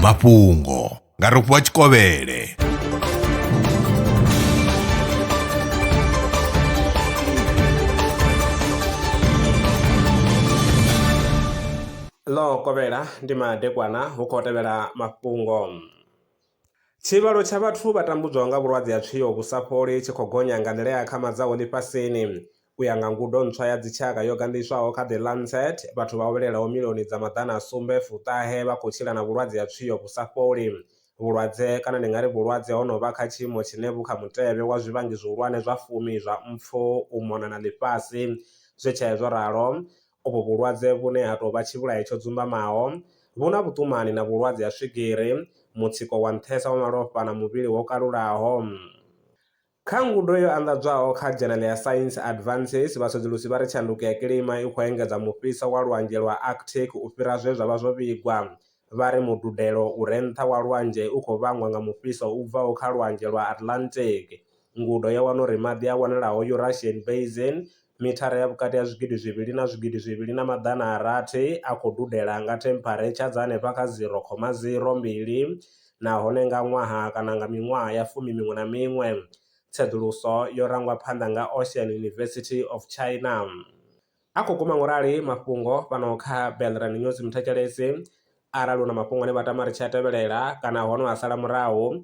mafhungo nga rofhiwa tshikovhele ḽo kovhela ndi madekwana hu khou tevhela mafhungo tshivhalo tsha vhathu vha tambudzwaho nga vhulwadze ha tswio vhu sa fholi tshi khou gonya nga nḓila ya akhamadzaho ḽifhasini U ya nga ngudo ntswa ya dzitshaka yo gandiswaho kha The Lancet, vhathu vha vhalelaho milioni dza maḓana a sumbe fu ṱahe vha khou tshila na vhulwadze ha tswio vhu sa fholi. Vhulwadze, kana ndi nga ri vhulwadze ho no vha kha tshiimo tshine vhu kha mutevhe wa zwivhangi zwihulwane zwa fumi zwa mpfu u mona na ḽifhasi. Zwi tshee zwo ralo, uvhu vhulwadze vhune ha tou vha tshivhulahi tsho dzumbamaho, vhu na vhuṱumani na vhulwadze ha swigiri, mutsiko wa nṱhesa wa malofha na muvhili wo kalulaho. Kha ngudo yo anḓadzwaho kha dzhenele ya Science Advances, vhasedzulusi vha ri tshanduko ya kilima i khou engedza mufhiso wa Lwanzhe lwa Arctic u fhira zwe zwa vha zwo vhigwa. Vha ri mududelo u re nṱha wa lwanzhe u khou vhangwa nga mufhiso u bvaho kha Lwanzhe lwa Atlantic. Ngudo yo wana uri maḓi a wanalaho Eurasian Basin mithara ya vhukati ha zwigidi zwivhili na zwigidi zwivhili na maḓana a rathi a khou dudela nga thempharetsha dza henefha kha 0.02 nahone nga ṅwaha kana nga miṅwaha ya fumi miṅwe na miṅwe. Tsedzuluso yo rangwa phanḓa nga Ocean University of China. A khou guma ngo rali mafhungo fhano kha Belrand News Muthetshelesi, arali u na mafhungo ane vha tama ri tshi a tevhelela kana hono a sala murahu,